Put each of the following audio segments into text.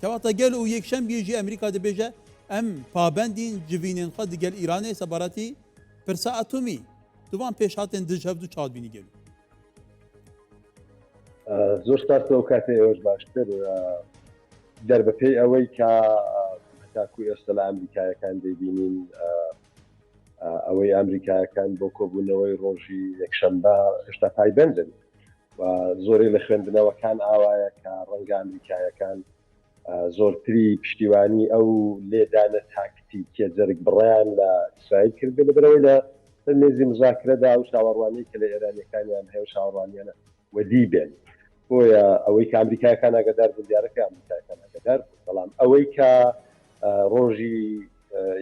کەواتە گەل و یەکشەم یێژی ئەمریکا دەبێژە ئەم پابەندین جڤینێن خە دگەل ئیرانێ سەبارەتی پرسە ئەتومی دوان پێشهاتێن دژ هەفتو چادبینی گەل. زۆر سپاس لەو کاتێ ئێوەش باشتر دەربەپێی ئەوەی کە تاکو ئێستا لە ئەمریکایەکان دەبینین ئەوەی ئەمریکایەکان بۆ کۆبوونەوەی ڕۆژی یەکشەمبە هێشتا پایبندن و زۆرێک لە خوێندنەوەکان ئاوایە کە ڕەنگە ئەمریکایەکان زۆرتری پشتیوانی ئەو لێدانە تاکتیکیە جەرگ بڕیان لە ئیسرائیل کرد بێ لەبەرەوەی لە سەر مێزی مزاکرەدا ئەو چاوەڕوانی کە لە ئێرانیەکانیان هەیە چاوەڕوانیانە وەدی بێن بۆیە ئەوەی کە ئەمریکایەکان ئاگدار بوون دیارەکە ئەمریکایەکان ئاگدار بوون بەڵام ئەوەی کە ڕۆژی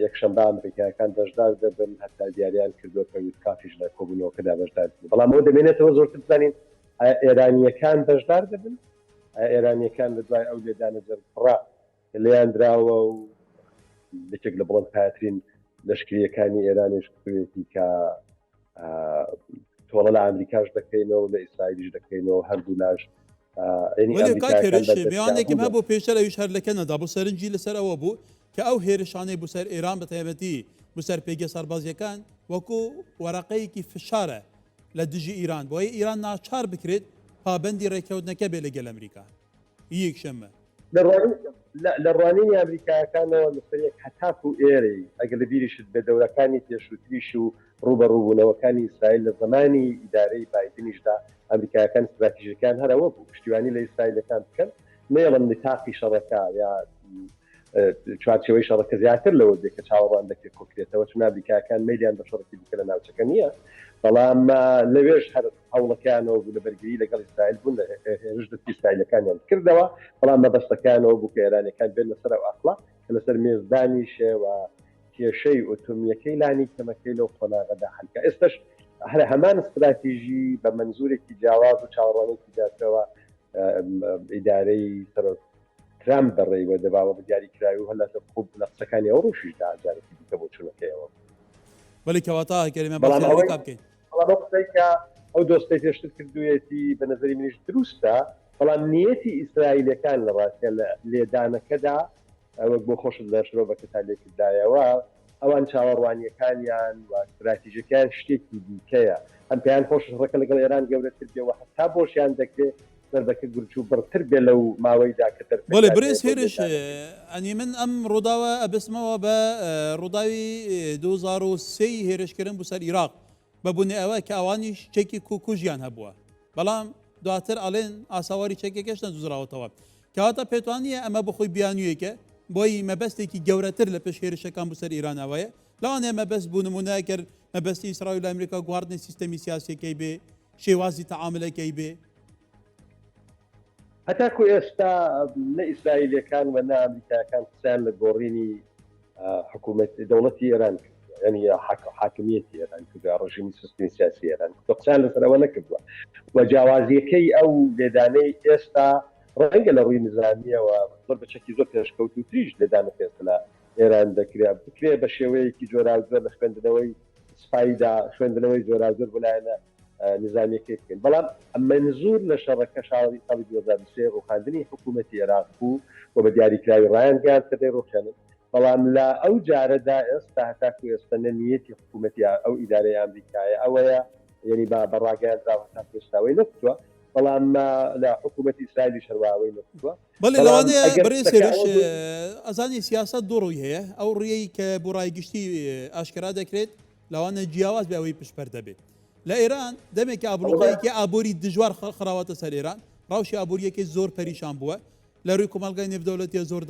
یەکشەمبە ئەمریکایەکان بەشدار دەبن هەتا دیاریان کردووە کە ویتکافیش لە کۆبوونەوەکەدا بەشدار دەبن بەڵام ئەوە دەمێنێتەوە زۆرتر بزانین ئێرانیەکان بەشدار دەبن ئێرانیەکان لە دوای ئەو لێدانە جەرگڕا لێیان دراوە و یەکێک لە بڵند پاترین لەشکریەکانی ئێرانیش کوێتی کە تۆڵە لە ئەمریکاش دەکەینەوە لە ئیسرائیلیش دەکەینەوە هەردوو لاش میوانێکم هەبوو پێشتر ئەوش هەر لەکەنەدا بۆ سەرنجی لەسەر ئەوە بوو کە ئەو هێرشانەی بوسەر ئێران بە تایبەتی بوسەر پێگە سەربازیەکان وەکو وەرەقەیەکی فشارە لە دژی ئیران بۆیە ئیران ناچار بکرێت پابندی ڕێککەوتنەکە بێ لەگەل ئەمریکا ی یەکشەممە. لە ڕوانینی ئامریکایەکانەوە نوسەرێک هەتاکو ئێرەی، ئەگەر لەبیریشت بێت دەورەکانی پێشوتریش و ڕوبەڕوبونەوەکانی ئیسرائیل لە زەمانی ئیدارەی بایدنیشدا ئامریکایەکان ستراتیژەکەیان هەر ئەوەبو پشتیوانی لە ئیسرائیلەکان بکەن نەیەڵن نتاقی شەڕەکە یا چوارچەوەی شەڕەکە زیاتر لەوە دێ کە چاوەڕوان دەکرێت کۆکرێتەوە چون ئەمریکاکان میلیان بە شەڕکی دیکە لە ناوچەکە نییە بەڵام لەوێش هەر هەوڵەکانەوە بوو لە بەرگری لەگەڵ ئیسرائیل بوون لە هێرش دەستی ئیسرائیلەکانیان کردەوە بەڵام مەبەستەکانەوە بوو کە ئێرانەکان بێن لەسەر ئەو ئەقڵە کە لەسەر مێزدانیشەوە کێشەی ئۆتۆمیەکەی لانی کەمەکەی لەو قۆناغەدا هەلکە ئێستش هەر هەمان استراتیژی بە منزورێکی جیاواز و چاوەڕوانێکی زیاترەوە ئیدارەی سەرۆک ترامپ بەڕێوە دەباوە بە دیاریکراوی و هەر لە سەر خۆ لە قسەکانی ئەو ڕۆژیش دا جارێکی دیکە بۆچوونەکەیەوە بوو. بەلی کەواتە ئاغای کەریم بەڵام ئەوەی بەڵام ئەو قسەی کە ئەو دۆستەی پێشتر کردوویەتی بە نەزەری منیش دروستە بەڵام نیەتی ئیسرائیلەکان لە ڕاستیا لە لێدانەکەدا وەک بۆ خۆشت لە شرۆڤەکەتا لێکردایەوە ئەوان چاوەڕوانییەکانیان و ستراتیژەکەیان شتێکی دیکەیە، هەم پێیان خۆشە شڕەکە لەگەڵ ئێران گەورەتر بێ و هەتا بۆشیان دەکرێ سەربەکە گرچ و بڕتر بێ لەو ماوەیدا کە بەلێ دەرفەتیان هەیە بەرێز بۆ هێرش لێدانەکەی. ئەنی من ئەم ڕووداوە ئەبەستمەوە بە ڕووداوی دوو هەزار و سێ ی هێرشکردن بو سەر ئیراق بە بونی ئەوە کە ئەوانیش چەکی کو کوژیان هەبووە بەڵام دواتر ئەڵێن ئاساواری چەکەکەش نەدوزراوەتەوە کەواتە پێتوانییە ئەمە بۆخۆی بیانوویەکە بۆی مەبەستێکی گەورەتر لە پێش هێرشەکان بوو سەر ئێرانەوەیە لەوانەیە مەبەست بوو نمونەکرد مەبەستی ئیسرائیل لە ئەمریکا گواردنی سیستەمی سیاسەکەی بێ شێوازی تەعاملەکەی بێ هەتاکو ئێستا نە ئیسرائیلەکان و نە ئەمریکاکان قسەیان لە گۆڕینی حکوومەت دەوڵەتی ئێران ینی حاکمیەتی ئێران کردوە ڕژیمی سستمی سیاسی ئێران قسان لەسەرەوە نەکردووە و جیاوازیەکەی ئەو لێدانەی ئێستا ڕەنگە لە ڕووی نزانیەوە زۆر بەچەکی زۆر پێشکەوت و تریش لێدانە پێست لە ئێران دەکرێ بکرێ بە شێوەیەکی جۆراوجۆر لە خوێندنەوەی سپایدا خوێندنەوەی جۆراوجۆر بلایەنە نیزامیەکەی بکەین بەڵام منزور لە شەڕەکە شاری ساڵی 2023 ڕوخاندنی حکوومەتی عێراق بوو و بە دیاریکراوی ڕایان گاز کە دەی ڕوخێنن بەڵام لە ئەو جارەدا ئێستا هەتاکو ئێستا نەنیەتی حکوومەتی ئەو ئیدارەی ئەمریکایە ئەوەیە یعنی با بە ڕاگەیان دراوە تا پێستاوەی نەکتووە بەڵام لە حکوومەتی ئیسرائیلی شەرواوەی نەکتووە بەڵێ لەوانەیە بەڕێ سێرش ئەزانی سیاست دوڕووی هەیە ئەو ڕێی کە بۆ ڕای گشتی ئاشکرا دەکرێت لەوانە جیاواز بێ ئەوەی پشپەردە بێ لە ئێران دەمێکە ئابلوقەیەکی ئابووری دژوار خراوەتە سەر ئێران ڕەوشی ئابووریەکەی زۆر پەریشان بووە لە رووی کۆمەلگای نێودەولەتیە زۆر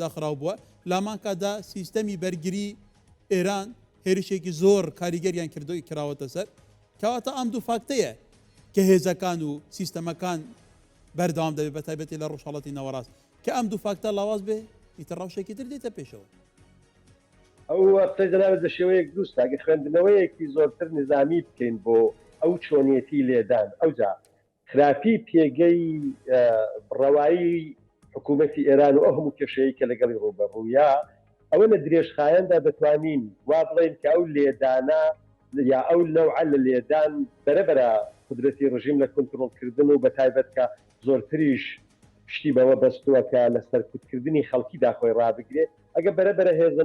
داخراو بووە لامانکادا سیستەمی بەرگری ئێران هێرشێکی زۆر کاریگەریان کردوی کراوەتە سەر کەواتە ئەم دوو فاکتەیە کە هێزەکان و سیستەمەکان بەردەوام دەبێت بە تایبەتی لە ڕۆژهڵەتی نەوەڕاست کە ئەم دوو فاکتە لاواز بێ ئیتر ڕەوشێکی تر دێتە پێشەوە ئەو قسەی دەناوێت بە شێوەیەک دروستە ئەگەر خوێندنەوەیەکی زۆرتر نیزامی بکەین بۆ ئەو چۆنیەتی لێدان ئەوجا خراپی پێگەی بڕەوایی حکوومەتی ئێران و ئەو هەموو کێشەیە کە لەگەڵی ڕووبەڕوویە ئەوە لە درێژخایەندا دەتوانین وا بڵێن کە ئەو لێدانە یا ئەو نەوعە لە لێدان بەرەبەرە قدرەتی ڕژیم لە کونترۆڵکردن و بە تایبەت کە زۆرتریش پشتی بەوە بەستووە کە لە سەرکوتکردنی خەڵکیدا خۆی ڕابگرێت، ئەگە بەرەبەرە هێزە